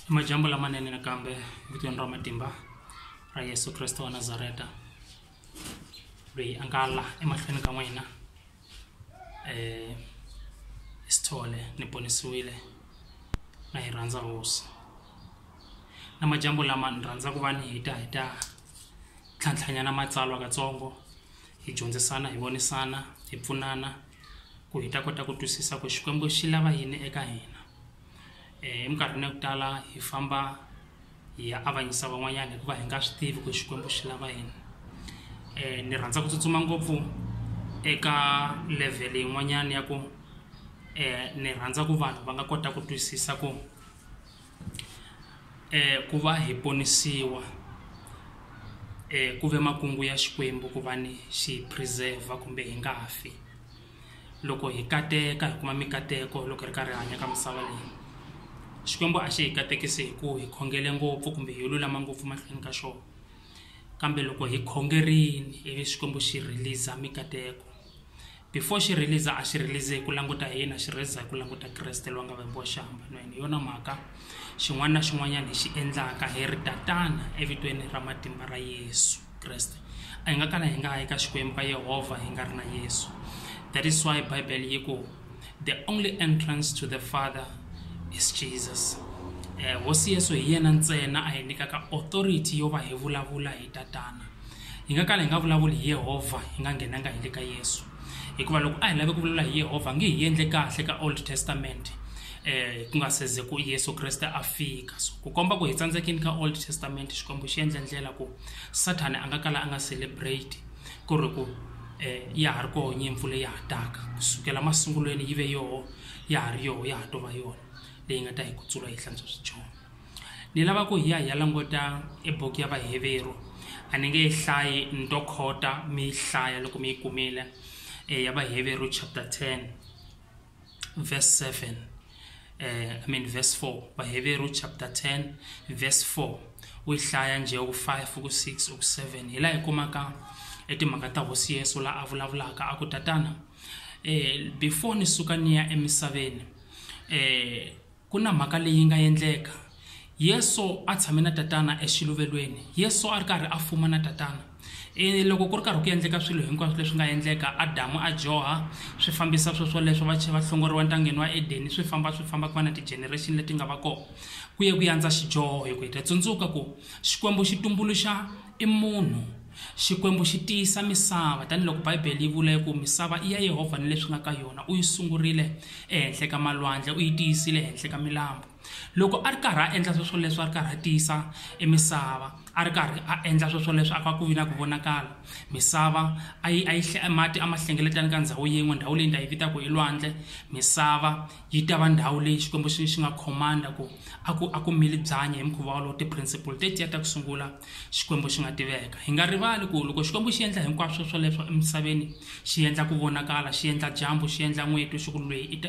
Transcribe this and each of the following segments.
Majambo lamanene nakambe vitweni ra matimba ra Yesu Kriste wa Nazareta loyi a nga la emahlweni ka n'wina eh hi sithole ni ponisiwile na hi rhandza hosi na majambo lama ni rhandza ku va ni heta hi ta tlhantlhanyana matsalwa katsongo hi dyondzisana hi vonisana hi pfunana ku hi ta kota ku twisisa ku xikwembu xi lava yini eka hina eh, eminkarhini ya ku tala hi famba hi ya avanyisa van'wanyana hikuva hi nga swi tivi ku xikwembu xi lava yini um ni rhandza ku tsutsuma ngopfu eka level yin'wanyana ya ku um ni rhandza ku vanhu va nga kota ku twisisa ku eh, ku va hi ponisiwa eh, ku ve makungu ya xikwembu ku va ni xi preserva kumbe hi nga fi loko hi kateka hi kuma mikateko loko hi ri karhi hanya ka misava leyi xikwembu a xi hi katekisi hi ku hi khongele ngopfu kumbe hi lulama ngopfu mahlweni ka xona kambe loko hi khongerini ivi xikwembu xi release mikateko before xi release a xi release hi ku languta hi yini a xi release hi ku languta kreste loyi a nga vambiwa xihambanweni hi yona mhaka xin'wana na xin'wanyana hi xi endlaka hi ri tatana evitweni ra matimba ra yesu kreste a hi nga kala hi nga yi ka xikwembu ka yehovha hi nga ri na yesu that is why bible yi ku the only entrance to the father is jesus um hosi yesu hi yena ntsena a hi nyikaka authority yo va hi vulavula hi tatana Hi nga kala hi nga vulavuli hi Yehovha hi nga nghenanga hi le ka Yesu, hikuva loko a hi lave ku vulavula hi Yehovha a nge hi endle kahle ka Old Testament eh ku nga seze ku Yesu Kreste a fika so ku komba ku hi tsandzekini ka Old Testament Xikwembu xi endle ndlela ku Sathane a nga kala a nga celebrate ku ri ku eh ya ha ri koho nyimpfu leyi ha taka kusukela masungulweni yi ve yoho ya ha ri yoho ya ha to va yona leyi nga ta hi kutsula yi hlantswa swidyoho. Ni lava ku hi ya hi ya languta e buku ya Vaheveru. A ni nge yi hlayi ni to khota mi yi hlaya loko mi yi kumile ya Vaheveru chapter 10 verse 7 I mean verse 4. Vaheveru chapter 10 verse 4 u yi hlaya njhe u ku 5 u ku 6 u ku 7 hi laha hi kumaka e timhaka ta hosi Yesu laha a vulavulaka a ku tatana before ni suka ni ya emisaveni Ku na mhaka leyi yi nga endleka. Yesu a tshame na Tatana exiluvelweni. Yesu a ri karhi a fuma na Tatana. E, loko ku ri karhi ku endleka swilo hinkwaswo leswi nga endleka, Adamu a dyoha, swi fambisa sweswoleswo, va va hlongoriwa entangeni wa Edeni, swi famba swi famba ku va na ti-generation leti nga va kona. Ku ye ku yandza xidyoho hi ku heta. Tsundzuka ku Xikwembu xi tumbuluxa i munhu. Xikwembu xi tiyisa misava, taniloko Bibele yi vula ku misava i ya Yehovha ni leswi nga ka yona, u yi sungurile ehenhla ka malwandle, u yi tiyisile ehenhla ka milambu. Loko a ri karhi a endla sweswoleswo a ri karhi a tiyisa emisava, a ri karhi a endla sweswoleswo a ka ku vi na ku vonakala misava a yi a yi mati a ma hlengeletana ka ndhawu yin'we ndhawu leyi ni ta yi vita ku i lwandle misava yi ta va ndhawu leyi Xikwembu xi xi nga command-a ku a ku a ku mili byanyi hi mukhuva wolowo ti-principle tetiya ta ku sungula xikwembu xi nga tiveka hi nga rivali ku loko xikwembu xi endla hinkwaswo swoleswo emisaveni xi endla ku vonakala xi endla dyambu xi endla n'weti swi ku lweyi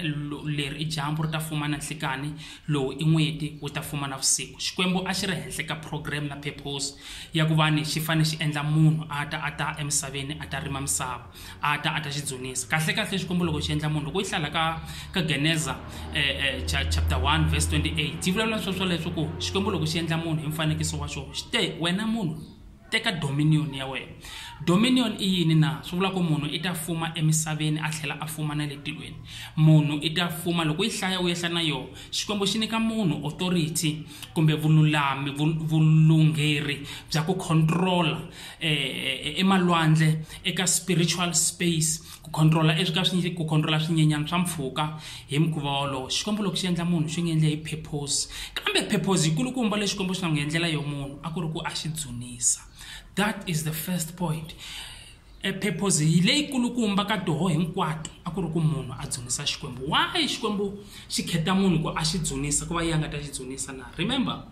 leri i dyambu ri ta fuma na nhlikani lowu i n'weti wu ta fuma na vusiku xikwembu a xi ri henhla ka program na purpose ya ku va ni xi fanele xi endla munhu a ta a ta emisaveni a ta rima misava a ta a ta xi dzunisa kahlekahle xikwembu loko xi endla munhu loko yi hlala ka ka geneza um chapter 1 verse 28 yi vulavula swo swoleswo ku xikwembu loko xi endla munhu hi mfanekiso wa xona xi te wena munhu teka dominion ya wena dominion i yini na swi vula ku munhu i ta fuma emisaveni a tlhela a fuma na le tilweni munhu i ta fuma loko yi hlaya u yehla na yona xikwembu xi nyika munhu authority kumbe vululami vulungheri bya ku controla eh, emalwandle e, e, eka spiritual space ku controla e, ka ku controla swinyenyana swa mpfhuka hi mukhuva wolowo xikwembu loko xi endla munhu xi n'wi endle hi purpose kambe purpose yikulukumba leyi xikwembu xi nga n'wi endlela yo munhu a ku ri ku a xi dzunisa that is the first point purpose hi leyi kulukumba ka toho hinkwato a ku ri ku munhu a dzunisa xikwembu why xikwembu xi kheta munhu ku a xi dzunisa ku va yi a nga ta xi dzunisa na remember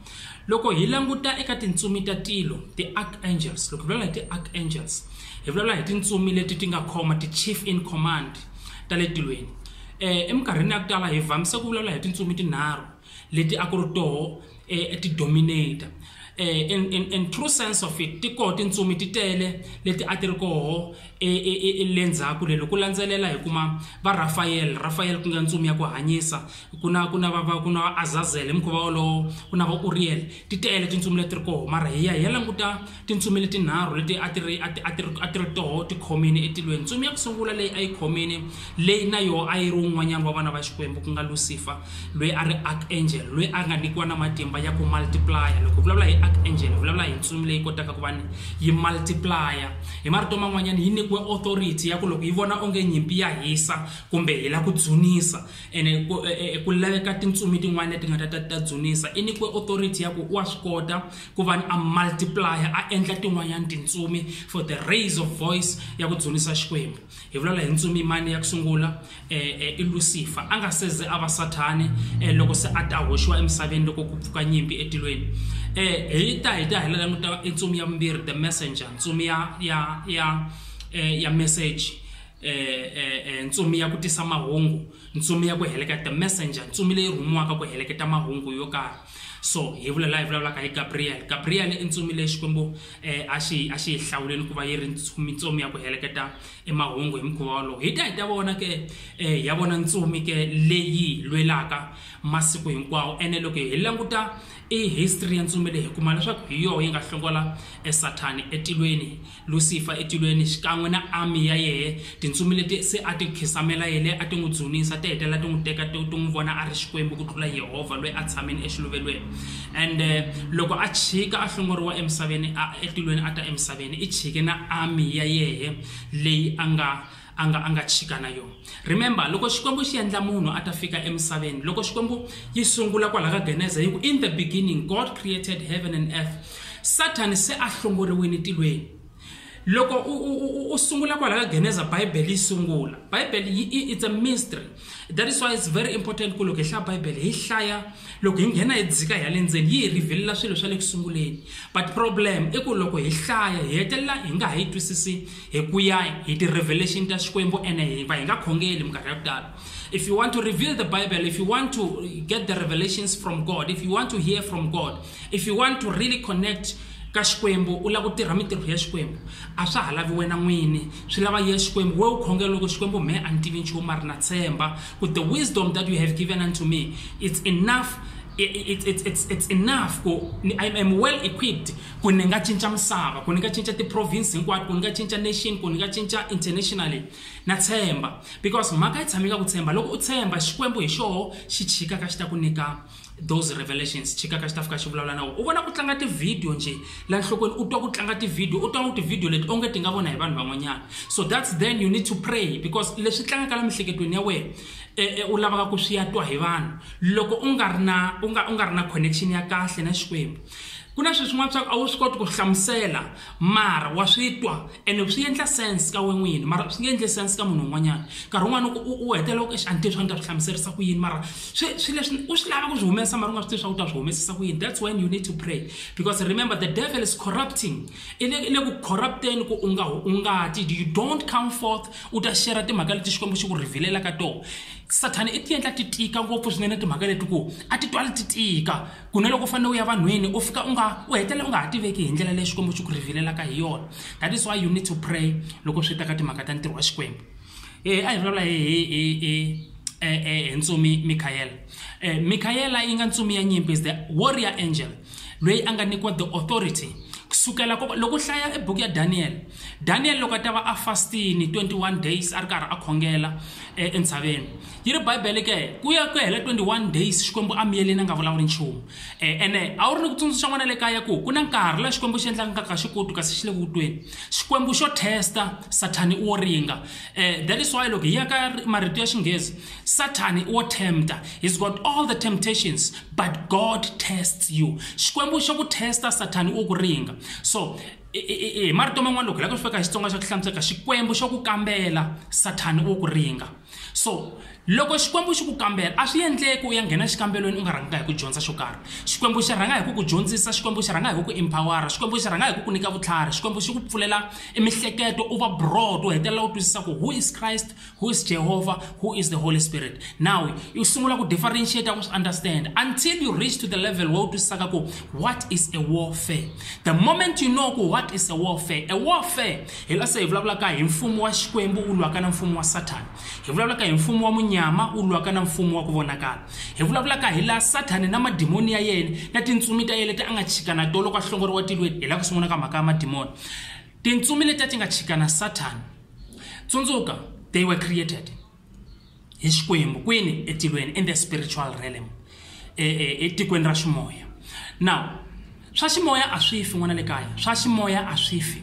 loko hi languta eka tintsumi ta tilo ti-archangels loko hi vulavula hi ti-archangels hi vulavula hi tintsumi leti ti nga khoma ti-chief in command ta le tilweni eh eminkarhini ya ku tala hi vamise ku vulavula hi tintsumi tinharhu leti a ku ri toho eh, ti dominate eh, in, in, in true sense of it ti koho tintsumi ti tele leti a ti ri koho elendzhaku lelo ku landzelela hi kuma va rafayele rafayele ku nga ntsumi ya ku hanyisa ku na ku na va va ku na va azazele hi mukhuva wolowo ku na va uriyele ti tele tintsumi leti ri koho mara hi ya hi ya languta tintsumi leti nharhu leti a ti ri a ti a ti ri a ti ri toho ti khomile etilweni ntsumi ya ku sungula leyi a yi khomile leyi na yoho a yi ri un'wanyana wa vana va xikwembu ku nga lucifer loyi a ri archangel loyi a nga nyikiwa na matimba ya ku multiplaya loko vulavula hi archangel vulavula hi ntsumi leyi kotaka ku va ni yi multiplaya hi marito man'wanyana yi nyikiwe authority ya ku loko yi vona onge nyimpi ya hisa kumbe hi la ku dzunisa ene ku e, e, laveka tintsumi tin'wana leti nga ta ta dzunisa i nyikiwe authority ya ku wa swi kota ku va ni a multiplaya a endla tin'wanyana tintsumi for the raise of voice ya ku dzunisa xikwembu hi vulavula hi ntsumi mani ya ku sungula i lucifer a nga seze a va sathani loko se a ta hoxiwa emisaveni loko ku pfuka nyimpi etilweni hi ta hi ta hi la languta i ntsumi ya vumbirhi the messenger ntsumi ya ya ya ya message ntsumi ya ku tisa mahungu ntsumi ya ku heleketa the messenger ntsumi leyi rhumiwaka ku heleketa mahungu yo karhi so hi vula laha hi vulavulaka hi gabriel gabriel i ntsumi leyi xikwembu um a xi a xi yi hlawuleni ku va yi ri mitsumi ya ku heleketa emahungu hi mukhuva wolowo hi ta hi ta vona ke um ya vona ntsumi ke leyi lwelaka masiku hinkwawo ene loko hi languta i history ya ntsumi leyi hi kuma leswaku hi yoho yi nga hlongola esathani etilweni Lusifa etilweni xikan'we na army ya yehe tintsumi leti se a ti khisamela yele a ti n'wi dzunisa ti hetelela ti n'wi teka ti n'wi vona a ri xikwembu ku tlula yehovha loyi a tshameni exiluvelweni and eh, loko a chika a hlongoriwa emisaveni etilweni a ta emisaveni i chike na army ya yehe leyi a nga a nga a nga chika na yona remember loko xikwembu xi endla munhu a ta fika emisaveni loko xikwembu yi sungula kwala ka geneza yi ku in the beginning god created heaven and earth satan se a hlongoriwile tilweni loko u sungula kwala ka geneza bibele yi sungula bibele yi it's a mystery that is why it's very important ku loko hi hlaya bibele hi hlaya loko hi nghena hi dzika hi ya le ndzeni yi hi rhivelela swilo swa le ku sunguleni but problem i ku loko hi hlaya hi hetelela hi nga ha yi twisisi hi ku ya hi ti-revelation ta xikwembu ene hi va hi nga khongeli minkarhi ya ku tala if you want to reveal the bible if you want to get the revelations from god if you want to hear from god if you want to really connect ka xikwembu u lava ku tirha mintirho ya xikwembu a swa ha lavi wena n'wini swi lava ya xikwembu we u khongela loko xikwembu mhe a ni tivi nchumu a ri na tshemba ku the wisdom that you have given unto me it's enough it's, it's, it's, it's enough ku I am well equipped ku ni nga cinca misava ku ni nga cinca ti-province hinkwato ku ni nga cinca nation ku ni nga cinca internationally na tshemba because mhaka yi tshame ka ku tshemba loko u tshemba xikwembu hi xoho xi chika ka xi ta ku nyika those revelations chika ka xitafu ka xi vulavula na wona u vona ku tlanga tivhidiyo njhe la nhlokweni u twa ku tlanga tivhidiyo u twa ngo tivhidiyo leti onge ti nga vona hi vanhu van'wanyana so that's then you need to pray because leswi tlangaka la mihleketweni ya wena eh, eh, u lavaka ku swi ya twa hi vanhu loko u nga ri na u nga u nga ri na connection ya kahle na xikwembu ku na sweswin'wana swa ku a wu swi koti ku hlamusela mara wa swi twa ene swi endla sense ka wena n'wini mara swi nge endli sense ka munhu un'wanyana nkarhi wun'wana loko u u hetelela ku a ni tivi swa ni ta swi hlamuserisa ku yini mara swi swi leswi u swi lava ku swi humesa mara u nga swi tivi swa ku ta swi humesisa ku yini that's when you need to pray because remember the devil is corrupting i le i le ku corrupteni ku u nga u nga ti you don't come forth u ta share timhaka leti xikwembu xi ku revelela ka tona sathana i ti endla ti tika ngopfu swinene timhaka leti ku a ti twali ti tika ku na loko u fanele u ya vanhwini u fika u nga u hetelela u nga ha tiveki hi ndlela leyi xikwembu xi ku rhevelelaka hi yona that is why you need to pray loko swi ta ka timhaka ta ntirho wa xikwembu e a hi vulavula hi hi hi hi hi ntsumi mikhayela mikhayela yi nga ntsumi ya nyimpi is the warrior angel loyi a nga nyikiwa the authority kusukela loko hlaya ebuku ya daniel daniel loko a ta va a fastini 21 days a ri karhi a khongela entshaveni yi ri bibele ke ku ya ku ya hela 21 days xikwembu a miyeleni a nga vulavuli nchumu eh, ene a wu ri ni ku tsundzuxa n'wana le kaya ku ku na nkarhi laha xikwembu xi endlaka nkarhi ka xikutu kasi xi le ku vutweni xikwembu xo testa sathani i wo ringa um eh, that is why loko hi ya ka marito ya xinghezi sathani i wo tempta he's got all the temptations but god tests you xikwembu xo ku testa sathani wo ku ringa so hi marito man'wana loko hi lava ku fika hi xitsonga xa ku hlamuseka xikwembu xo ku kambela sathani wo ku ringa so loko xikwembu xi ku kambela a swi endleki u ya nghena xikambelweni u nga rhanganga hi ku dyondza xo karhi xikwembu xi rhanga hi ku ku dyondzisa xikwembu xi rhanga hi ku ku empowera xikwembu xi rhanga hi ku ku nyika vutlhari xikwembu xi ku pfulela emihleketo u va broad u hetelela u twisisa ku who is christ who is jehovah who is the holy spirit now u sungula ku differentiate ku swi understand until you reach to the level where u twisisaka ku what is a warfare the moment you know ku what is a warfare a warfare hi nga se hi vulavulaka hi mfumo wa xikwembu wu lwaka na mfumo wa sathana hi vulavulaka hi mfumo wa munyama wu lwaka na mfumo wa ku vonakala hi vulavulaka hi laha sathana na madimoni ya yena na tintsumi ta yena leti a nga chika na to loko a hlongoriwa tilweni hi laha ku sungula ka mhaka ya madimoni tintsumi leti a ti nga chika na sathana tsundzuka they were created hi xikwembu kwini etilweni in the spiritual realm e, e, etikweni ra ximoya now swa ximoya a swi fi n'wana le kaya swa ximoya a swi fi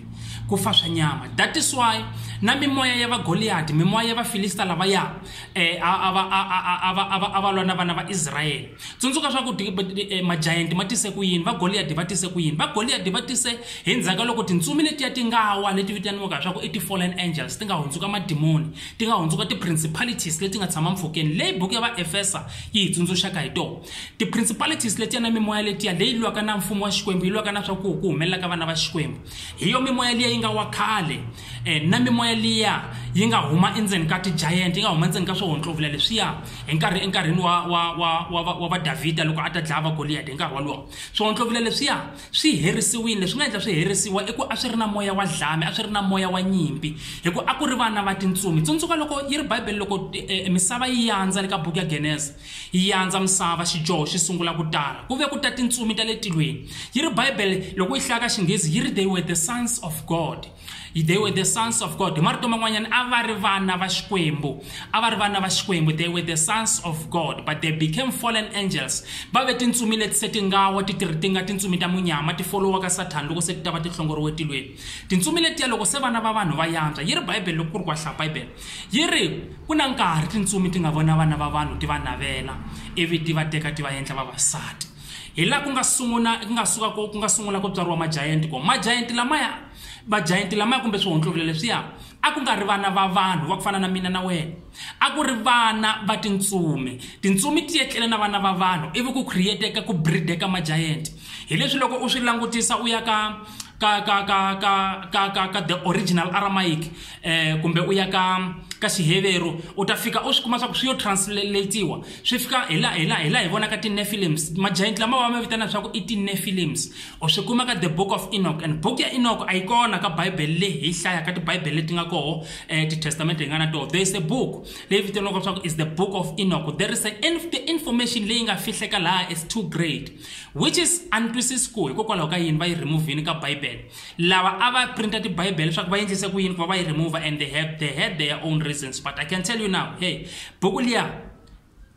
ku fa swa nyama that is why na mimoya ya vagoliyadi mimoya ya vafilista lavaya eh, a va lwa na vana va israyele tsundzuka swa ku eh, majayenti ma tise ku yini vagoliyadi va tise ku yini vagoliyadi va tise hi ndzhaka loko tintsumi letiya ti nga wa leti vitaniwaka swa ku i ti-fallen angels ti nga hundzuka madimoni ti nga hundzuka ti-principalities leti nga tshama mpfhukeni leyi buku ya vaefesa yi hi tsundzuxaka hi tona ti-principalities letiya na mimoya letiya leyi lwaka na mfumo wa xikwembu yi lwaka na swa ku ku humelela ka vana va xikwembu hi yo mimoya liya yi nga wa khale um na mimoya liya yi nga huma endzeni ka ti-giant yi nga huma endzeni ka swohontlovula leswiya hi nkarhi enkarhini wa wa wa wa wa vadavhida loko a ta dlaya va goliyadi hi nkarhi wolowo swohontlovula leswiya swi herisiwile leswi nga endla swi herisiwa i ku a swi ri na moya wa dlame a swi ri na moya wa nyimpi hi ku a ku ri vana va tintsumi tsundzuka loko yi ri bibele loko eh, misava yi yandza le ka buku ya geneza yi yandza misava xidyoho xi sungula ku tala ku ve ku ta tintsumi ta le tilweni yi ri bibele loko yi hlaya ka xinghezi yi ri they were the sons of god they were the sons of god hi marito man'wanyana a va ri vana va xikwembu a va ri vana va xikwembu they were the sons of god but they became fallen angels va ve tintsumi leti se ti nga wa ti tirhi ti nga tintsumi ta munyama ti folowaka sathana loko se ti ta va ti hlongoriwe tilweni tintsumi letiya loko se vana va vanhu va yantswa yi ri bibele loko ku ri ku ahlaya bibele yi ri ku na nkarhi tintsumi ti nga vona vana va vanhu ti va navela ivi ti va teka ti va endla vavasati hi la ku nga sungula ku nga suka ku nga sungula ku tswariwa majayenti ko majayenti lamaya vajayenti lamaya kumbe swihontlokile leswiya a ku nga ri vana va vanhu va ku fana na mina na wena a ku ri vana va tintsumi tintsumi ti etlele na vana va vanhu ivi ku createka ku brideka majayenti hi leswi loko u swi langutisa u ya ka ka ka ka ka ka ka ka the original aramaic eh kumbe u ya ka ka xiheveru u ta fika u swi kuma swa ku swi yo translatiwa swi fika hi la hi la hi la hi vonaka ti-nefilims majaenti lama va ma vitana leswaku i ti-nefilims u swi kuma ka the book of enoch and book ya enoch a yi kona ka bibele leyi hi hlayaka tibibele leti nga koho um eh, titestamente hi nga na toho there is a book leyi vitaniwaka leswaku is the book of enoch there is a, the information leyi nga fihleka laha is too great which is a ni twisisi ku hikokwalaho ka yini va yi removhini ka bibele lava a va printa tibibele leswaku va endlise ku yini ku va va yi remova and they have they had their own reasons but i can tell you now hey buku liya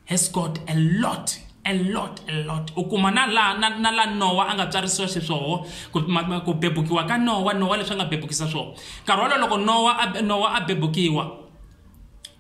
has got a lot a lot a lot u kuma na la na, na la nowa a nga tswarisiwa xiswoho ku bebukiwa ka nowa nowa leswi a nga bebukisa swona nkarhi wolowo loko nowa a, nowa a bebukiwa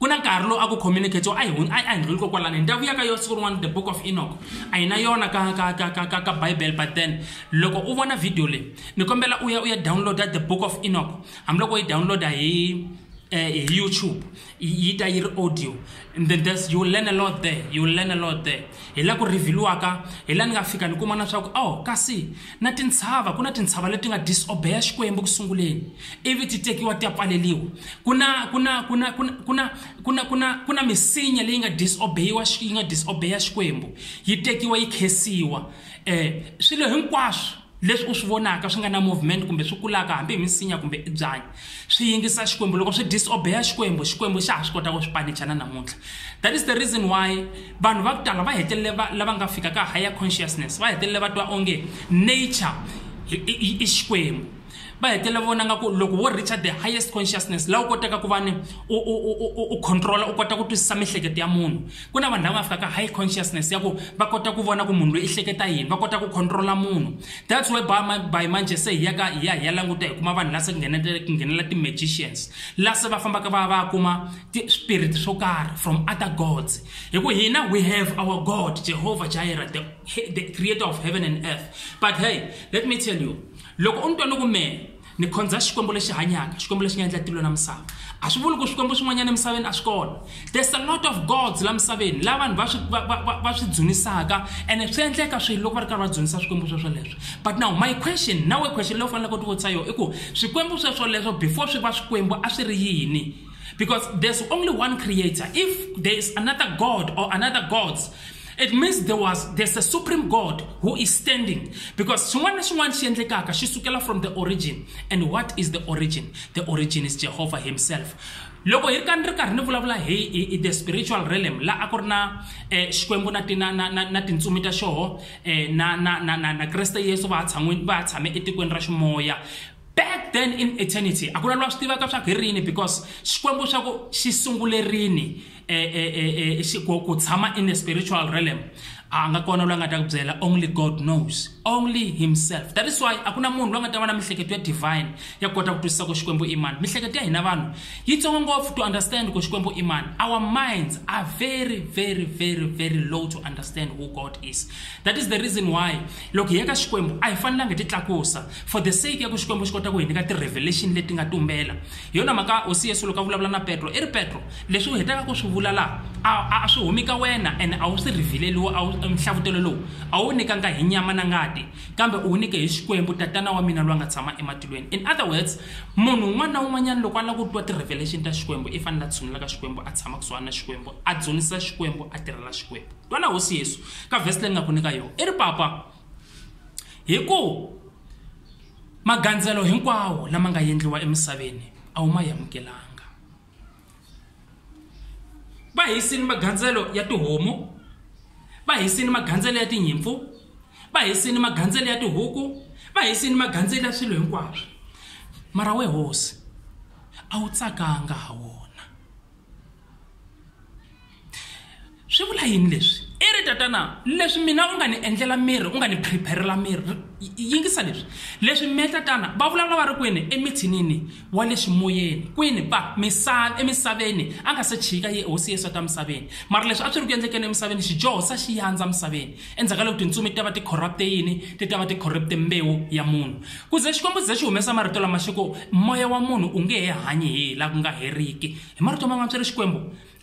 ku na nkarhi lowu a ku communicate-iwa a hi a hi ndlhuli ko kwalano hi ta vuya ka yona siku rin'wana the book of enoch a hi na yona ka ka ka ka ka ka bible but then loko u vona video leyi ni kombela u ya u ya download-a the book of enoch hambiloko u yi download-a hi eh, hi youtube yi yi ta yi ri audio and then there's, you will learn a lot there you will learn a lot there hi la ku revhiliwaka hi la ni nga fika ni kuma na swa ku oh kasi Na tintshava, ku na tintshava leti nga disobeya Xikwembu eku sunguleni, ivi ti tekiwa ti ya pfaleriwa. Ku na, ku na, ku na, ku na, ku na, ku na, ku na, ku na misinya leyi nga disobeyiwa, yi nga disobeya Xikwembu, yi tekiwa yi khesiwa. Eh, swilo hinkwaswo leswi u swi vonaka swi nga na movement kumbe swi kulaka hambi hi misinya kumbe i byanyi, swi yingisa xikwembu loko swi disobeya xikwembu xikwembu xa ha swi kota ku swi panicha na namuntlha that is the reason why vanhu va ku tala va hetelele lava nga fika ka higher consciousness va hetelele va twa onge nature i xikwembu va hetelela vona nga ku loko wo reacha the highest consciousness laha u kotaka ku va ni u controla u kota ku twisisa miehleketo ya munhu ku na vanhu lava nga fika ka high consciousness ya ku va kota ku vona ku munhu loyi i hleketa yini va kota ku controla munhu that's why by manje se hi yaka hi ya hi ya languta hi kuma vanhu la se ku nghenela ti-magicians la se va fambaka va va kuma ti-spirit swo karhi from other gods hi ku hina we have our god jehovah jireh the, the creator of heaven and earth but hey let me tell you loko u ni twa ni ku mehe ni khonza xikwembu lexi hanyaka xikwembu lexi nga endla tilo na misava a swi vuli ku swikwembu swin'wanyana emisaveni a swi kona there's a lot of gods la misaveni la vanhu va swi va- va- va- va swi dzunisaka ene swi endleka swilo loko va ri karhi va dzunisa swikwembu sweswo leswo but now my question nawe question leyi u faneleke u tivutisa yona i ku swikwembu sweswo leswo before swi va swikwembu a swi ri yini because there's only one creator if there is another god or another gods it means there was there's a supreme god who is standing because xin'wana na xin'wana xi endlekaka xi sukela from the origin and what is the origin the origin is jehovah himself loko hi ri ka ni ri karhi ni vulavula hi hi- hi the spiritual realm la a ku ri na eh, xikwembu na ti- na- na- na- na tintsumi ta xoho eh, na na- na- na- na kreste yesu va ha tshan'we- va ha tshame etikweni ra ximoya back then in eternity a ku na lwa swi tivaka swa ku hi rini because xikwembu xa ku xi sungulerini e, e, e, e, ku, ku tshama in a spiritual realm a nga kona loyi a nga ta ku byela only god knows only himself that is why a ku na munhu loyi a nga ta va na mihleketo ya divine ya kota ku twisisa ku xikwembu i mani mihleketo ya hina vanhu yi tsongo ngopfu to understand ku xikwembu i mani our minds are very very very very low to understand who god is that is the reason why loko hi ya ka xikwembu a hi fanelanga hi ti tlakusa for the sake ya ku xikwembu xi kota ku hi nyika ti-revelation leti nga tumbela hi yona mhaka hosi yesu loko a vulavula na petro i ri petro leswi u hetaka ku swi vula laha a swi humi ka wena ene a wu swi rhivileliwo nhlavutelo lowu a wu nyikanga hi nyama na ngati kambe u wu nyike hi xikwembu tatana wa mina loyi a nga tshama ematilweni in other words munhu un'wana na un'wanyana loko a lava ku twa ti-revelation ta xikwembu i fanele a tshunula ka xikwembu a tshama kusuhana na xikwembu a dzunisa xikwembu a tirhela xikwembu twana hosi yesu ka vhesi leyi ni nga ku nyika yona i ri papa hi ku magandzelo hinkwawo lama nga endliwa emisaveni a wu ma amukelanga va hisile magandzelo ya tihomu va hisile magandzelo ya tinyimpfu va hisile magandzelo ya tihuku va hisile magandzelo ya swilo hinkwaswo mara we hosi a wu tsakanga ha wona. swi vula yini leswi i ri tatana leswi mina u nga ni endlela miri u nga ni prepare-rela miri yingisa leswi leswi me tatana va vulavula va ri kwini emithinini wa le ximoyeni kwini va misava emisaveni a nga se chika ye hosi yesu ta misaveni mara leswi a swi ri ku endlekeni emisaveni xidyoho sa xi yandza misaveni endzhaku ka loko tintsumi ti ta va ti corrupt-e yini ti ta va ti corrupt-e mbewu ya munhu ku ze xikwembu ze xi humesa marito lama xi ku moya wa munhu u nge he hanyi hi la ku nga heriki hi marito man'wana swi ri xikwembu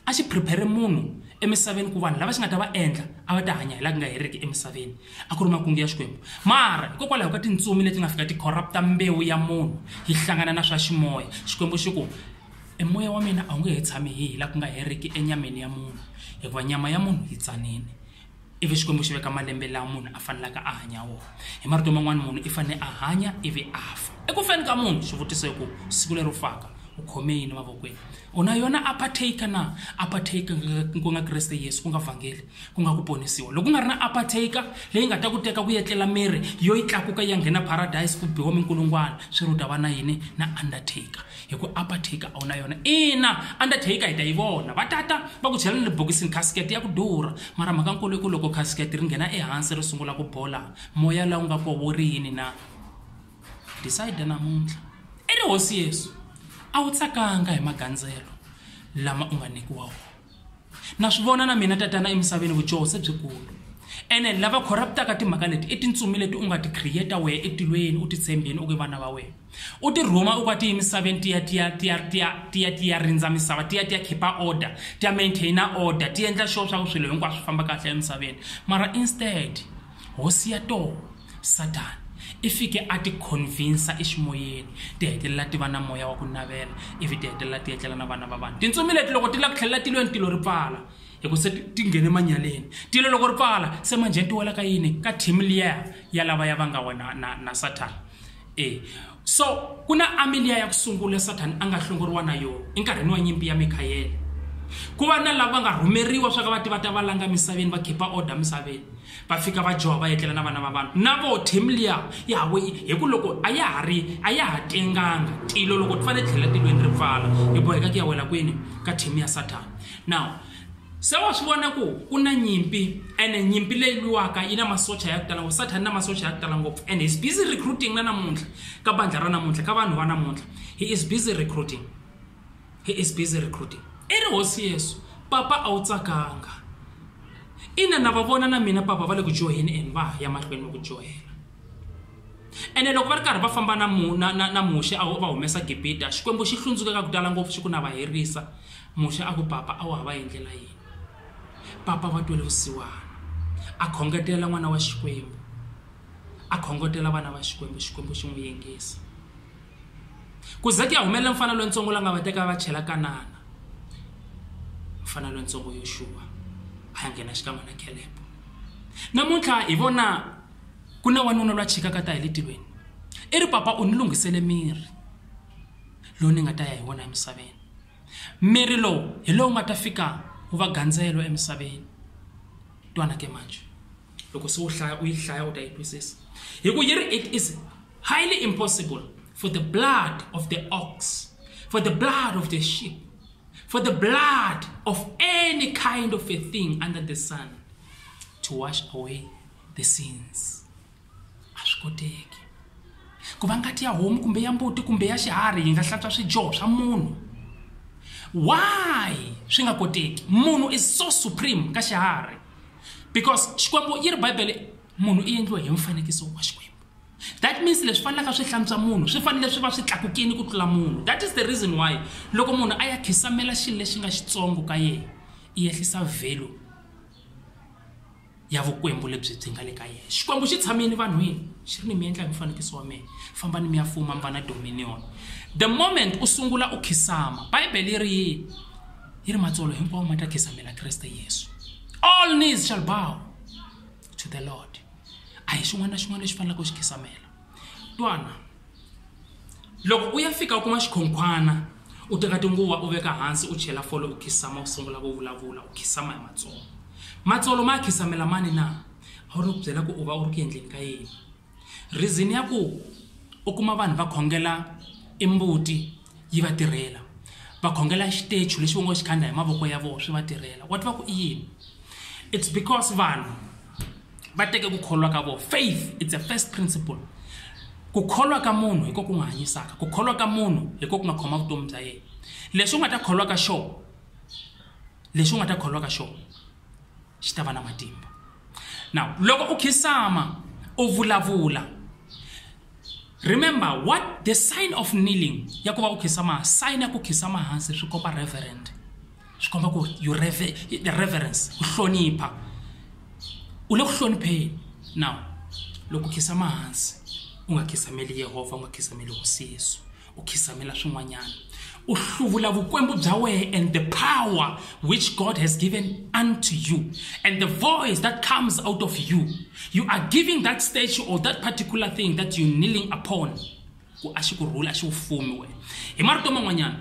a xi prepare munhu emisaveni ku vanhu lava xi nga ta va endla a va ta hanya hi la ku nga heriki emisaveni a ku ri makungu ya xikwembu mara hikokwalaho ka tintsumi leti nga fika ti corrupta mbewu ya munhu yi hlangana na swa ximoya xikwembu xi ku e moya wa mina a wu nge he tshami hi hi la ku nga heriki enyameni ya munhu hikuva nyama ya munhu yi tsanile ivi xikwembu xi veka malembe lawa munhu a fanelaka a hanya wona hi marito man'wana munhu i fanele a hanya ivi a fa eku feni ka munhu xivutiso i ku siku leri u faka u khome yini mavokweni u na yona apartake na apartake ku nga kreste yesu ku nga vhangeli ku nga ku ponisiwa loko ku nga ri na apartake leyi nga ta ku teka ku yetlela miri yo yi tlakuka ya nghena paradise ku biwa minkulungwana swi ri u ta va na yini na undertaker hi ku apartake a wu na yona ina undertaker hi ta yi vona va tata va ku chela na le bokisini casket ya ku durha mara mhaka nkulu i ku loko casket ri nghena ehansi ri sungula ku bola moya lawu nga koho wo ri yini na decide namuntlha i ri hosi yesu a wu tsakanga hi magandzelo lama u nga nyikiwa wona na swi vona na mina tatana emisaveni vujoho se byikulu ene lava corruptaka timhaka leti i tintsumi leti u nga ti creata wehe etilweni u ti tshembeni u ke vana va wena u ti rhuma u ka ti emisaveni tiya tiya tiya tiya tiya tiya rindza misava tiya tiya khipa order tiya maintaina order ti endla sure swa ku swilo hinkwaswo swi famba kahle emisaveni mara instead hosi ya tona Sathana i fike a ti khonvinsa eximoyeni, ti hetelela ti va na moya wa ku navela ivi ti hetelela ti etlela na vana va vanhu. Tintsumi leti loko ti lava ku tlhelela tilweni tilo ri pfala hikuva se ti nghene manyaleni. Tilo loko ri pfala se manjheni ti wela ka yini? Ka team liya ya lavaya va nga wena na Sathana. e so ku na ameliya ya ku sungula sathana a nga hlongoriwa na yona enkarhini wa nyimpi ya mikhayele ku va na lava nga rhumeriwa swa ka va ti va ta va langa misaveni va khipa order misaveni va fika va joha va etlela na vana va vanhu na vo team liya ya hawe hi ku loko a ya ha ri a ya ha tenganga tilo loko ti fanele tlhela tilweni ri pfala hi boheka ku ya wela kwini ka team ya sathana now se wa swi vona ku ku na nyimpi ene nyimpi leyi lwiwaka yi na masocha ya ku tala ngopfu sathani na masocha ya ku tala ngopfu and he's busy recruiting na namuntlha ka bandla ra namuntlha ka vanhu va namuntlha he is busy recruiting he is busy recruiting i ri hosi yesu papa a wu tsakanga ina na va vona na mina papa va le ku dyoheni and va ha ya mahlweni va ku dyohela ene loko va ri karhi va famba na mu- na- na- na muxe a wu- va humesa gibita xikwembu xi hlundzuka ka ku tala ngopfu xi ku na va herisa Muxe a ku, Papa, a wu ha va endlela yini? Papa va twele vusiwana, a khongetela n'wana wa Xikwembu, a khongotela vana va Xikwembu, Xikwembu xi n'wi yingisa. Ku ze ku ya humelela mfana lontsongo la nga va teka a va chela Kanana, mfana lontsongo Yoxuwa a ya nghena xikan'we na Khelebe. Namuntlha hi vona ku na wanuna loyi a chikaka ta hi le tilweni, i ri, Papa, u ni lunghisele miri lowu ni nga ta ya hi wona emisaveni. Mirhi lowu hi lowu nga ta fika wu va gandzelo emisaveni. Twana ke manje. Loko se u hlaya u yi hlaya u ta yi twisisa. Hi ku yi ri it is highly impossible for the blood of the ox, for the blood of the sheep, for the blood of any kind of a thing under the sun to wash away the sins. a swi koteki ku va ngati ya homu kumbe ya mbuti kumbe ya xiharhi yi nga hlantswa swidyoho swa munhu why swi nga koteki munhu is so supreme ka xiharhi because xikwembu yi ri bibele munhu i endliwe hi mfanekiso wa xikwembu that means leswi fanelaka swi hlantswa munhu swi fanele swi va swi tlakukini ku tlula munhu that is the reason why loko munhu a ya khisamela xilo lexi nga xitsongo ka yena i yehlisa value ya vukwembu lebyi byi nga le ka yena xikwembu xi tshamile vanhwini xi ri ni mi endla hi mufanikiso wa mina fambani mi ya fuma mi va na dominion the moment u sungula u khisama bibele yi ri yini yi ri matsolo hinkwawo ma ta khisamela kreste yesu all knees shall bow to the lord a hi xin'wana na xin'wana lexi faneleke u xi khisamela twana loko u ya fika u kuma xikhonkhwana u teka tinguva u veka hansi u chela fole u khisama u sungula ku vulavula u khisama hi matsolo matsolo ma ya khisamela mani na a wu ri ku byela ku u va u ri ku endleni ka yini reason ya ku u kuma vanhu va khongela i mbuti yi va tirhela va khongela xitechu lexi va ngo xikhandla hi mavoko ya vona swi va tirhela wa tiva ku i yini it's because vanhu va teke ku kholwa ka vona faith it's a first principle ku kholwa ka munhu hi ko ku n'wi hanyisaka ku kholwa ka munhu hi ko ku nga khoma vutomi bya yena leswi u nga ta kholwa ka xona leswi u nga ta kholwa ka xona xi ta va na matimba now loko u khisama u vulavula remember what the sign of kneeling ya ku va u khisama sign ya ku khisama hansi swi komba reverend swi komba ku you reve, the reverence ku hlonipha u le ku hlonipheni now loko u khisa mahansi u nga khisameli yehovha u nga khisameli hosi yesu u khisamela swin'wanyana u hluvula vukwembu bya wena and the power which god has given unto you and the voice that comes out of you you are giving that statue or that particular thing that you kneeling upon ku a xi ku rhula a xi wu fumi wehe hi marito man'wanyana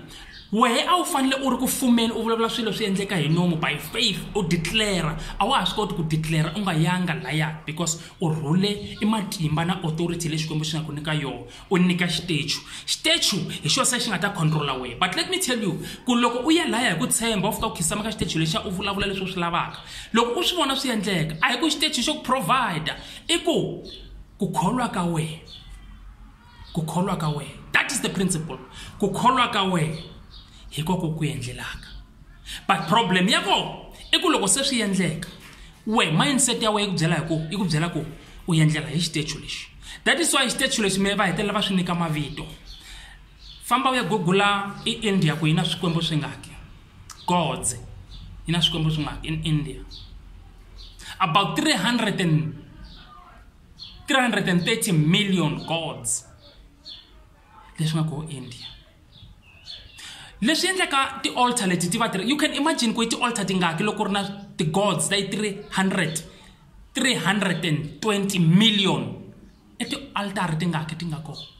wehe a wu fanele u ri ku fumeni u vulavula swilo swi endleka hi nomu by faith u declara a wa ha swi koti ku declara u nga yanga laya because u rhule i matimba na authority leyi xikwembu xi nga ku nyika yona u nyika xitechu xitechu hi xo se xi nga ta controla wehe but let me tell you ku loko u ya laya hi ku tshemba u fika u khisama ka xitechu lexiya u vulavula leswi u swi lavaka loko u swi vona swi endleka a hi ku xitechu xo ku provide i ku kukholwa ka wena kukholwa ka wena that is the principle kukholwa ka wena hi koko ku endlelaka but problem ya kona i ku loko se swi endleka we mindset ya wena yi ku byela hi ku yi ku byela ku u endlela hi xitechu lexi that is why xitechu lexi me va hetelela va swi nyika mavito famba u ya gugula i india ku yi na swikwembu swi ngaki godze yi na swikwembu swi ngaki in india about 300 and 330 million gods leswi nga koho india leswi endlaka ti-alter leti ti va ti ri you can imagine ku i ti-alter tingaki loko ri na ti-gods ta yi 300 320 million i ti-altara tingaki ti nga kona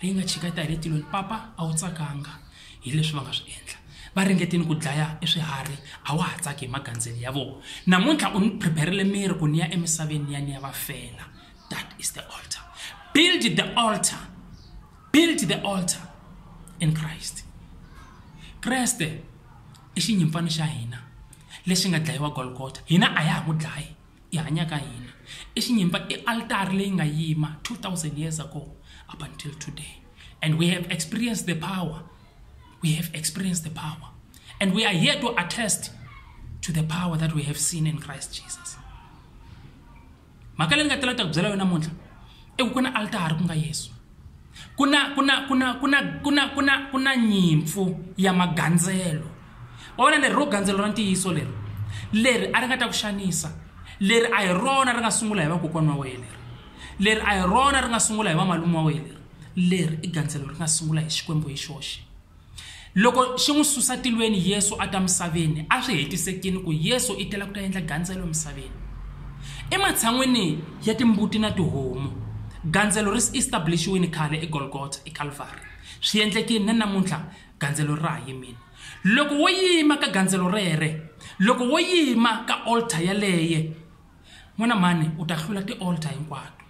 leyi nga chika ta hi le tilweni papa a wu tsakanga hi leswi va nga swi endla va ringetile ku dlaya e swiharhi a wa ha tsaki hi magandzelo ya vona namuntlha u ni prepare-rile miri ku ni ya emisaveni ni ya ni ya va fela that is the altar build the altar build the altar in christ kreste i xinyimpfana xa hina lexi nga dlayiwa golgota hina a ya ha ku dlayi hi hanyaka hi yona i xinyimba i altari leyi nga yima 2000 years ago up until today and we have experienced the power we have experienced the power and we are here to attest to the power that we have seen in christ jesus mhaka leyi ni nga telata ku byela yona namuntlha i ku ku na altari ku nga yesu ku na ku na ku na ku na ku na ku na ku na nyimpfu ya magandzelo wa vona leri ro gandzelo ra ntiyiso leri leri a ri nga ta ku xanisa leri a hi rona ri nga sungula hi vakokwana wa wena leri leri a hi rona ri nga sungula hi vamalume wa wena leri leri i gandzelo ri nga sungula hi xikwembu hi xoxe Loko xi n'wi susa tilweni Yesu a ta misaveni, a swi hetisekile ku Yesu i tela ku ta endla gandzelo emisaveni. Ematshan'wini ya timbuti na tihomu, gandzelo ri establish-wile khale eGolgotha, eKalvari. Swi endlekile, na namuntlha gandzelo ra ha yimile. Loko wo yima ka gandzelo rere, loko wo yima ka altar yaleye, n'wana mani u ta hlula ti-alter hinkwato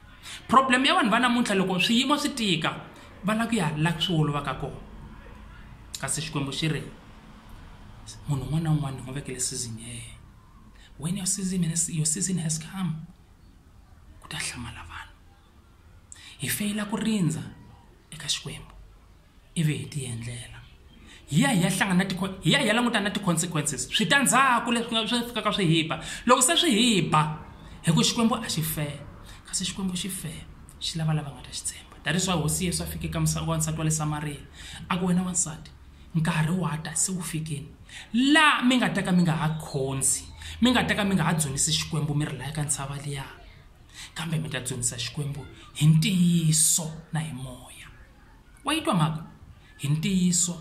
problem ya vanhu va namuntlha loko swiyimo swi tika va lava ku ya la swi olovaka kona kasi xikwembu xi ri munhu un'wana na un'wana ni n'wi vekele season ya yena when your season, has, your season has come ku ta hlamala vanhu hi feyila ku rindza eka xikwembu ivi hi ti endlela hi ya hi ya hlangana na ti hi ya hi ya languta na ti consequences switandzhaku leswi nga swi fikaka swi hi ba loko se swi hi ba hi ku xikwembu a xi fela kasi xikwembu xi fela xi lava lava nga ta xi tshemba that is why hosi yesu a fike ka misava wansati wa le samariya a ku wena wansati nkarhi wa ta se wu fikile laha mi nga ta ka mi nga ha khonzi mi nga ta ka mi nga ha dzunisi xikwembu mi ri laya ka ntshava liya kambe mi ta dzunisa xikwembu hi ntiyiso na hi moya Wa yi twa mhaka? Hi ntiyiso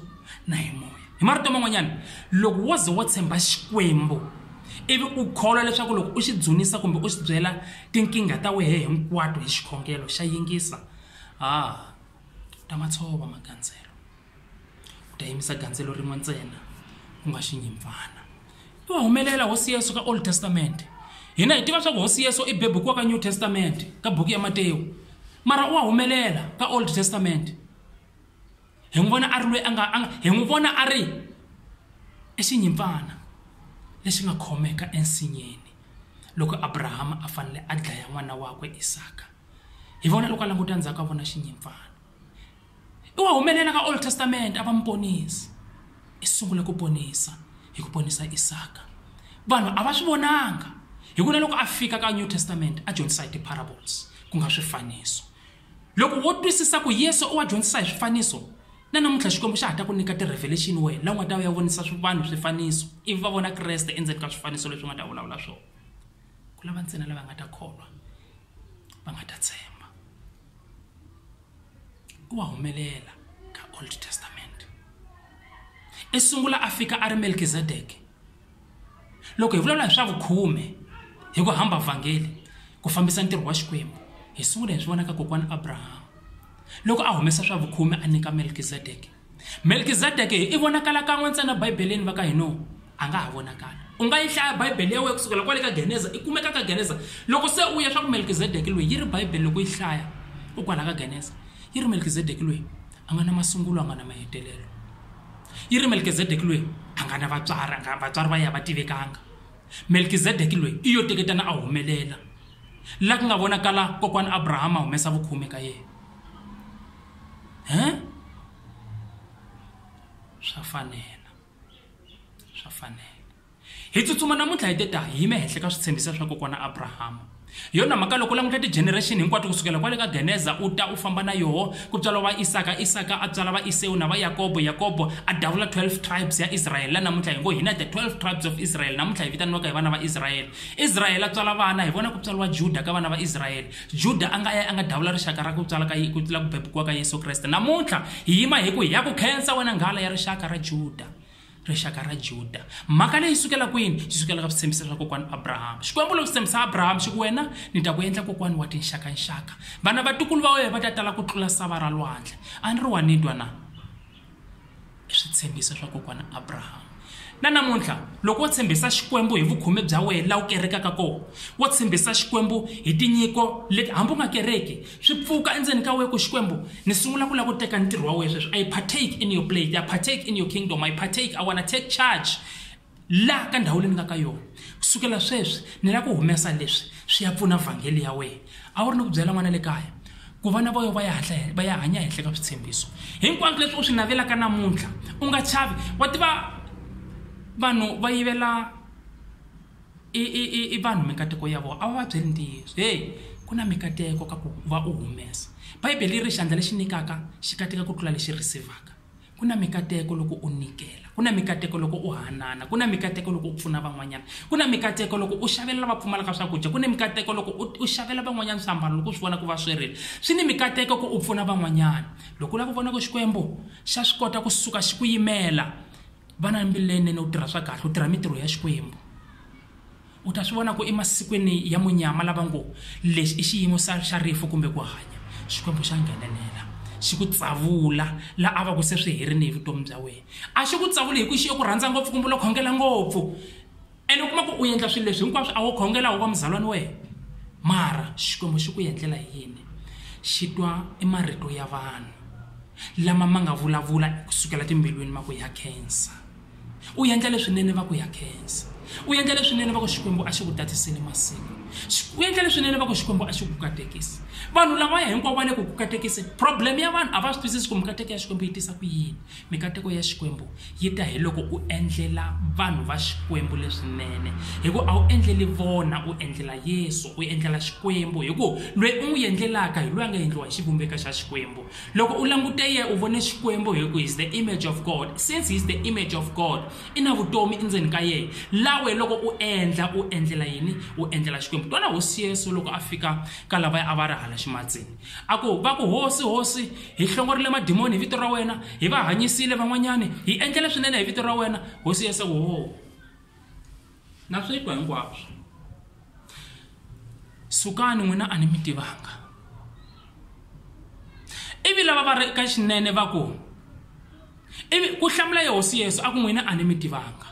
na hi moya. Hi marito man'wanyana, loko wo ze wo tshemba Xikwembu ivi u kholwa leswaku loko u xi dzunisa kumbe u xi byela tinkingha ta wehe hinkwato hi xikhongelo xa yingisa, ha, u ta ma tshova magandzelo. U ta yimisa gandzelo rin'we ntsena, ku nga xinyimpfana. i wa humelela hosi yesu ka old testament hina hi tiva swa ku hosi yesu i bebukiwa ka new testament ka buku ya matewu mara u wa humelela ka old testament hi n'wi vona a ri loyi a nga a nga hi n'wi vona a ri i xinyimpfana lexi nga khomeka ensinyeni loko abrahama a fanele a dlaya n'wana wakwe isaka hi vona loko a languta ndzhaku a vona xinyimpfana I wa humelela ka Old Testament a va muponisi. I sungule ku ponisa hi ku ponisa Isaka. Vanhu a va swi vonanga hi ku na loko a fika ka New Testament a dyondzisa hi ti-parables ku nga swifaniso. Loko wo twisisa ku Yesu u wa dyondzisa hi swifaniso na namuntlha Xikwembu xa ha ta ku nyika ti-revelation wena la u nga ta u ya vonisa vanhu swifaniso ivi va vona Kreste endzeni ka swifaniso leswi u nga ta vulavula swona. Ku lava ntsena lava nga ta kholwa va nga ta tshemba. ku wa humelela ka old testament i sungula a fika a ri melkizedeke loko hi vulavula hi swa vukhume hi ku hamba vhangeli ku fambisa ntirho wa xikwembu hi sungula hi swi vona ka kokwana abrahama loko a humesa swa vukhume a nyika melkizedeke Melkizedeke i vonakala kan'we ntsena Bibeleni va ka hino a nga ha vonakala u nga yi hlaya Bibele ya wena kusukela kwale ka Geneza i kumeka ka Geneza loko se u ya swa ku Melkizedeke loyi yi ri Bibele loko yi hlaya u kwala ka Geneza yi ri Melkizedeke loyi a nga na masungulo a nga na mahetelelo yi ri Melkizedeke loyi a nga na vatswari a nga vatswari va ya va tivekanga Melkizedeke loyi i yo teketana a humelela la ku nga vonakala kokwana Abrahama humesa vukhume ka yena. swa fanela swa fanela hi tsutsuma namuntlha hi te ta hi yime henhla ka switshembiso swa kokwana abrahama hi yona mhaka loko languta ti-generation hinkwato kusukela kwale ka geneza u ta u famba na yoho ku tswala va isaka isaka a tswala va isewu na va yakobo yakobo a davula 12 tribes ya israyele la namuntlha hi ngo hina the 12 tribes of israel namuntlha hi vitaniwaka hi vana va israyele israyele a tswala vana hi vona ku tswaliwa juda ka vana va israyele Juda a nga ya a nga dawula rixaka ra ku tswala ka ku tlula ku bebukiwa ka Yesu Kreste. Namuntlha hi yima hi ku hi ya ku khensa wena nghala ya rixaka ra Juda rixaka ra juda mhaka leyi sukela kwini yi sukela ka switshembiso swa kokwana abrahama xikwembu loko tshembisa abrahama xi ku wena ni ta ku endla kokwana wa tinxakanxaka vana vatukulu va wena va ta tala ku tlula sava ra lwandle a ni ri wa nitwa na switshembiso swa kokwana Abraham na namuntlha loko wo tshembisa xikwembu hi vukhume bya wena la wu kerekaka kona wo tshembisa xikwembu hi tinyiko leti hambi u nga kereki swi pfuka endzeni ka wena ku xikwembu ni sungula ku lava ku teka ntirho wa wena sweswi i partake in your plate i partake in your kingdom i partake i wanna take charge laha ka ndhawu leyi ni nga ka yona kusukela sweswi ni lava ku humesa leswi swi ya pfuna vhangeli ya wena a wu ri ni ku byela n'wana le kaya ku vana va yo va ya hatla va ya hanya henhla ka switshembiso hinkwaswo leswi u swi navelaka namuntlha u nga chavi wa tiva vanhu va yivela i i i i vanhu mikateko ya vona a va va byeli ntiyiso heyi ku na mikateko ka ku va u humesa bibele yi ri xandla lexi nyikaka xi katika ku tlula lexi rhisivhaka Ku na mikateko loko u nyikela, ku na mikateko loko u hanana, ku na mikateko loko u pfuna van'wanyana, ku na mikateko loko u xavela lava pfumalaka swakudya, ku na mikateko loko u xavela van'wanyana swiambalo loko u swi vona ku va swerile. Swi ni mikateko ku u pfuna van'wanyana. Loko u lava ku vona ku Xikwembu xa swi kota ku suka xi ku yimela, va na mbilu leyinene, u tirha swa kahle, u tirha mintirho ya Xikwembu. u ta swi vona ku emasikwini ya munyama lava ngo lexi i xiyimo xa xa rifu kumbe ku hanya xikwembu xa nghenelela xi ku tsavula la a va ku se swi herini hi vutomi bya wena a xi ku tsavuli hi ku xi yo ku rhandza ngopfu kumbe lo khongela ngopfu ene u kuma ku u endla swilo leswi hinkwaswo a wo khongela wu va muzalwani wena mara xikwembu xi ku endlela hi yini xi twa i marito ya vanhu lama ma nga vulavula kusukela timbilwini ma ku ya khensa U endla leswinene va ku ya khensa. U endla leswinene va ku Xikwembu a xi ku tatisile masiku. U endla leswinene va ku Xikwembu a xi ku katekisi. Vanhu lavaya hinkwavo va le ku ku katekiseni. Problem ya vanhu a va swi twisisi ku mikateko ya Xikwembu yi tisa ku yini. Mikateko ya Xikwembu yi ta hi loko u endlela vanhu va Xikwembu leswinene. Hi ku a wu endleli vona u endlela Yesu, u endlela Xikwembu hi ku loyi u n'wi endlelaka hi loyi a nga endliwa hi xivumbeko xa Xikwembu. Loko u languta ye u vone Xikwembu hi ku he's the image of God. Since he's the image of God, i na vutomi endzeni ka ye. La we loko u endla, u endlela yini? U endlela Xikwembu. Twana Hosi Yesu loko a fika ka lavaya a va ri hala ximatsini. A ku, va ku, Hosi, Hosi, hi hlongorile madimoni hi vito ra wena, hi va hanyisile van'wanyani, hi endlele swinene hi vito ra wena. Hosi Yesu a ku, Hoo! Na swi twa hinkwaswo. Sukani n'wina a ni mi tivanga. Ivi lava va ri eka xinene va ku, ivi ku hlamula yehosi yesu a ku n'wina a ni mi tivanga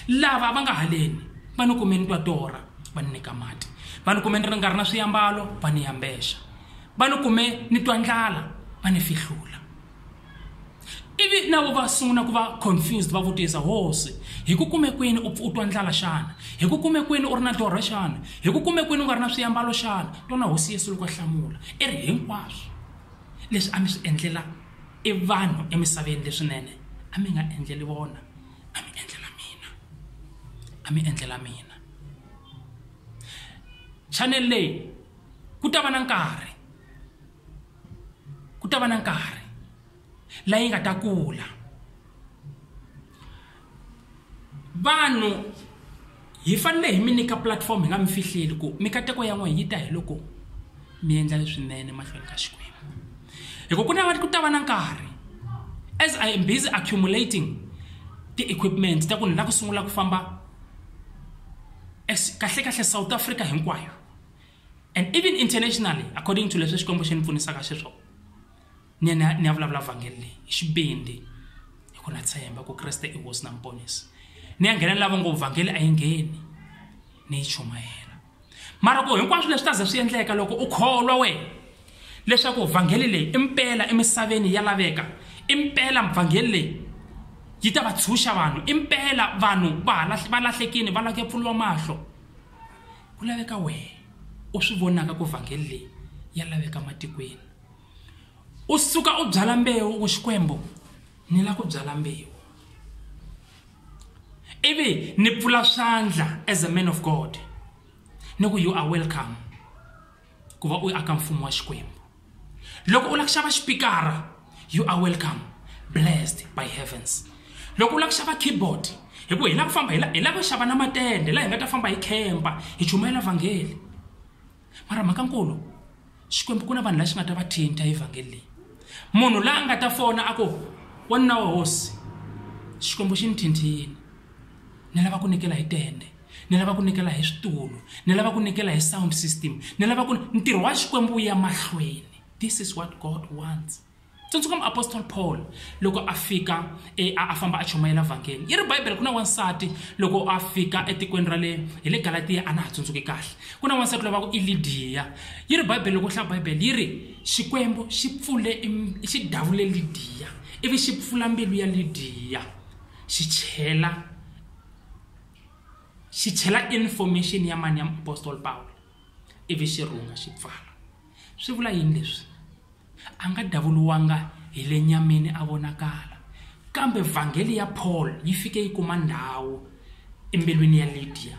lava va nga haleni va ni kumeni twa torha va ni nyika mati va ni kumeni ri nga ri na swiyambalo va ni yambexa va ni kume ni twa ndlala va ni fihlula ivi na vo va sungula ku va confused va vutisa hosi hi ku kume kwini u u twa ndlala xana hi ku kume kwini u ri na dorha xana hi ku kume kwini u nga ri na swiyambalo xana tona hosi yesu loko a hlamula i ri hinkwaswo leswi a mi swi endlela i vanhu emisaveni leswinene a mi nga endleli vona a mi endlela mina a mi endlela mina chanel leyi ku ta va na nkarhi ku ta va na nkarhi la yi nga ta kula vanhu hi fanele hi mi nyika platform hi nga mi fihleli ku mikateko ya n'wina yi ta hi loko mi endla leswinene mahlweni ka xikwembu hikuva ku na ku ta va na nkarhi as i am busy accumulating ti-equipment ta ku ni la ku sungula ku famba kahle kahle south africa hinkwayo and even internationally according to leswi xikwembu xi ni pfunisaka xiswona ni ya ni ya vulavula vhangeli leyi hi xibindi hi ku na tshemba ku kreste i hosi na muponisi ni ya nghena ni lava ngo vhangeli a yi ngheni ni yi chumayela mara ku hinkwaswo leswi ta ze swi endleka loko u kholwa wena leswaku vhangeli leyi i mpela emisaveni ya laveka i mpela vhangeli leyi yi ta va tshunxa vanhu i mpela vanhu va lahlekini va lake pfuriwa mahlo Ku laveka wehe u swi vonaka ku vhangeli leyi ya laveka matikweni. U suka u byala mbewu ku Xikwembu ni lava ku byala mbewu ivi ni pfula swandla as a man of God ni ku you are welcome. ku va u aka mfumo wa Xikwembu. Loko u lava ku xava xipikara, you are welcome, blessed by heavens. Loko u lava ku xava keyboard, hi ku hi lava ku famba hi la hi lava ku xava na matende laha hi nga ta famba hi khempa hi chumayela vhangeli. Mara mhaka nkulu, Xikwembu ku na vanhu lava xi nga ta va thinta hi vhangeli leyi. Munhu la nga ta fona a ku, wanuna wa hosi, Xikwembu xi ni thinthile, ni lava ku nyikela hi tende. ni lava ku nikela hi switulu ni lava ku nikela hi sound system ni lava ku ntirho wa xikwembu wu ya mahlweni this is what god wants tsundzuka muapostoli paul loko a fika e, a famba a chumayela vhangeli yi ri bibele ku na wansati loko a fika etikweni ra le hi le galatiya a na ha tsundzuki kahle ku na wansati lova ku i lidiya yi ri bibele loko hlaya bibele yi ri xikwembu xi pfule xi davule lidiya ivi xi pfula mbilu ya lidiya xi chela xi chela information ya mani ya muapostola pawulo ivi xi rhunga xi pfala swi vula yini leswi a nga davuriwanga hi le nyameni a vonakala kambe vhangeli ya paul yi fike yi kuma ndhawu embilwini ya lidiya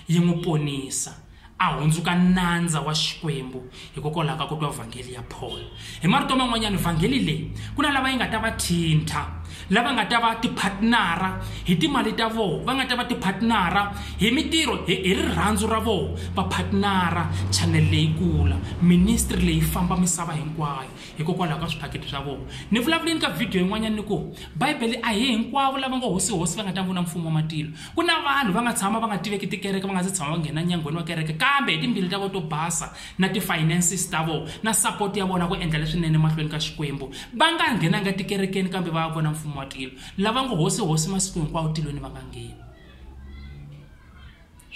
yi n'wi ponisa a hundzuka nandza wa Xikwembu hikokwalaho ka ku twa vhangeli ya Paul. Hi marito man'wanyana, vhangeli leyi ku na lava yi nga ta va thintha, lava nga ta va tiphatnara hi timali ta vona, va nga ta va tiphatnara hi mitirho, hi rirhandzu ra vona, va phatnara chanele leyi kula, ministry leyi famba misava hinkwayo hikokwalaho ka swiphakiti swa vona. Ni vulavule ni ka vhidiyo yin'wanyana ni ku, Bibele a hi hinkwavo lava ngo hosi-hosi va nga ta vona Mfumo wa matilo. Ku na vanhu va nga tshama va nga tiveki tikereke va nga se tshama va nghena nyangweni wa kereke kambe hi timbilu ta vona to basa na ti-finances ta vona na support ya vona ku endla leswinene emahlweni ka Xikwembu va nga nghenanga tikerekeni kambe va ya vona mfumo wa tilo lava ngo hosi hosi masiku hinkwawo tilweni va nga ngheni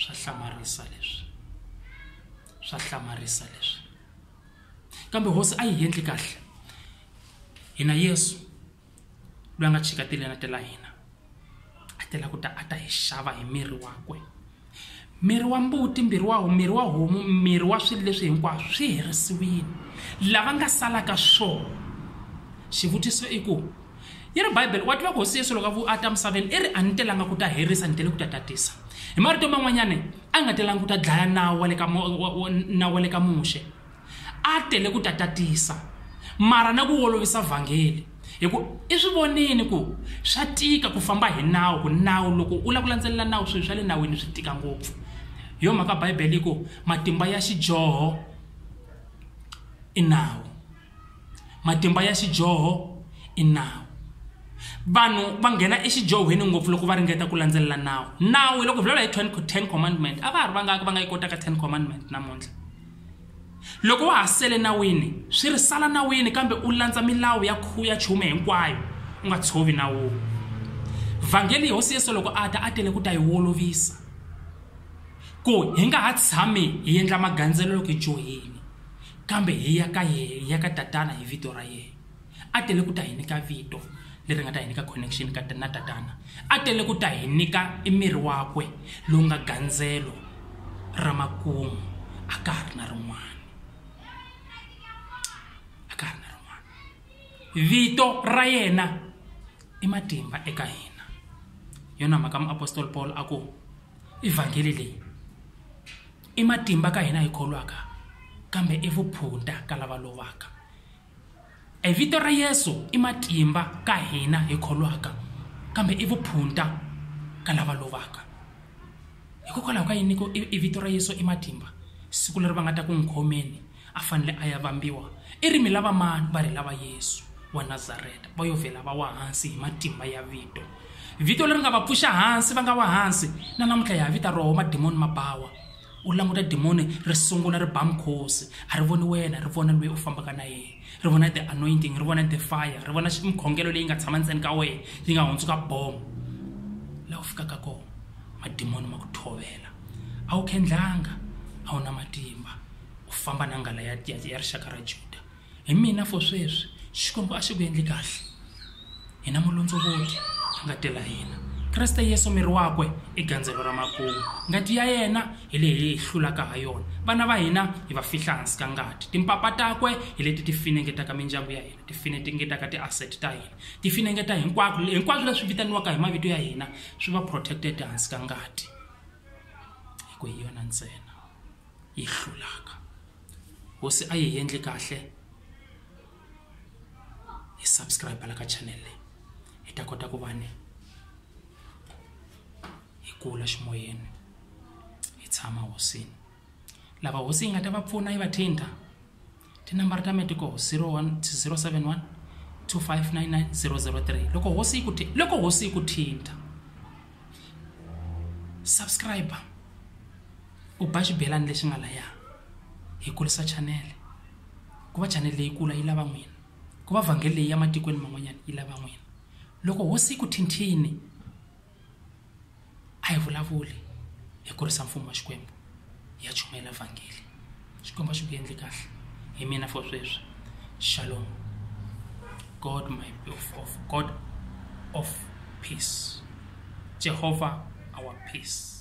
swa hlamarisa leswi swa hlamarisa leswi kambe hosi a yi endli kahle hina Yesu loyi a nga chika tilena ta la hina a tela ku ta a ta hi xava hi miri wakwe miri wa mbuti mbirhi wa miri wa homu miri wa swilo leswi hinkwaswo swi herisiwile lava nga salaka swona xivutiso i ku yi ri bibele wa tiva ku hosi yesu loko a ta misaveni i ri a ni telanga ku ta herisa ni tele ku ta tatisa hi marito man'wanyana a nga telanga ku ta dlaya nawu wa le ka nawu wa le ka muxe a tele ku ta tatisa mara na ku olovisa vhangeli hi ku i swi vonini ku swa tika ku famba hi nawu ku nawu loko u lava ku landzelela nawu swilo swa le nawini swi tika ngopfu hi yo mhaka bibele yi ku matimba ya xidyoho i nawu matimba ya xidyoho i nawu vanhu va nghena exidyohweni ngopfu loko va ringeta ku landzelela nawu nawu loko vulavula hi ten commandment a va ha ri vangaki va nga yi kotaka ten commandment namuntlha Loko wa ha sele nawini, swi ri, Sala nawini kambe u landza milawu ya khuya chume hinkwayo, u nga tshovi nawu. Vhangeli, Hosi Yesu loko a ta, a tele ku ta hi wolovisa ku hi nga ha tshami hi endla magandzelo loko hi dyohile, kambe hi ya ka yena, hi ya ka Tatana hi vito ra yena. a tele ku ta hi nyika vito leri nga ta hi nyika connection ka na tatana a tele ku ta hi nyika i miri wakwe lowu nga gandzelo ra makumu a ka ha ri na rin'wana a ka ha ri na rin'wana vito ra yena i matimba eka hina yona mhaka muapostoli paul a ku evhangeli leyi i matimba ka hina hi kholwaka kambe i vuphunta ka lava lovaka E vito ra Yesu i matimba ka hina hi kholwaka, kambe i vuphunta ka lava lovaka. Hikokwalaho ka yini ni ku i vito ra Yesu i matimba? Siku leri va nga ta ku n'wi khomeni a fanele a ya vambiwa, i ri mi lava mani? Va ri hi lava Yesu wa Nazareta. Va yo vhela va wa hansi hi matimba ya vito. Vito leri nga va pfuxa hansi va nga wa hansi, na namuntlha hi ha vita roho madimoni ma bawa. u languta dimoni ri sungula ri ba mukhosi a ri voni wena ri vona loyi u fambaka na yena ri vona the anointing ri vona the fire ri vona mikhongelo leyi nga tshama ndzeni ka wena yi nga hundzuka bomo laha u fikaka kona madimoni ma ku thovela a wu khendlanga a wu na matimba u famba na nghala ya ya ya rixaka ra juda hi mina for sweswi xikwembu a xi ku endli kahle hina mulondzovoti a nga tela hina kreste yesu miri wakwe i gandzelo ra makumu ngati ya yena hi leyi hi hlulaka ha yona vana va hina hi va fihla hansi ka ngati timpapa takwe hi leti ti finengetaka mindyangu ya hina ti finengetaka ti-asset ta hina ti finengeta hinkwako hinkwaswo leswi vitaniwaka hi mavito ya hina swi va protected hansi ka ngati hi ku hi yona ntsena yi hlulaka hosi a yi hi endli kahle hi subscribe la ka channel leyi hi ta kota ku va ni hi kula ximoyeni hi tshama hosini lava hosi yi nga ta va pfuna yi va thinta tinambara ta metiko 071 2599 003 loko hosi yi ku thi- loko hosi yi ku thinta subscribe u ba xibelani lexi nga laya hi kurisa chanele ku va chanele leyi kula yi lava n'wina ku va vhangeli leyi ya matikweni man'wanyana yi lava n'wina loko hosi yi ku thinthini a hi vulavuli hi kurisa mfumo wa xikwembu ya chumela vhangeli xikwembu a xi ku endli kahle hi mina for sweswi shalom god my of, of god of peace jehovah our peace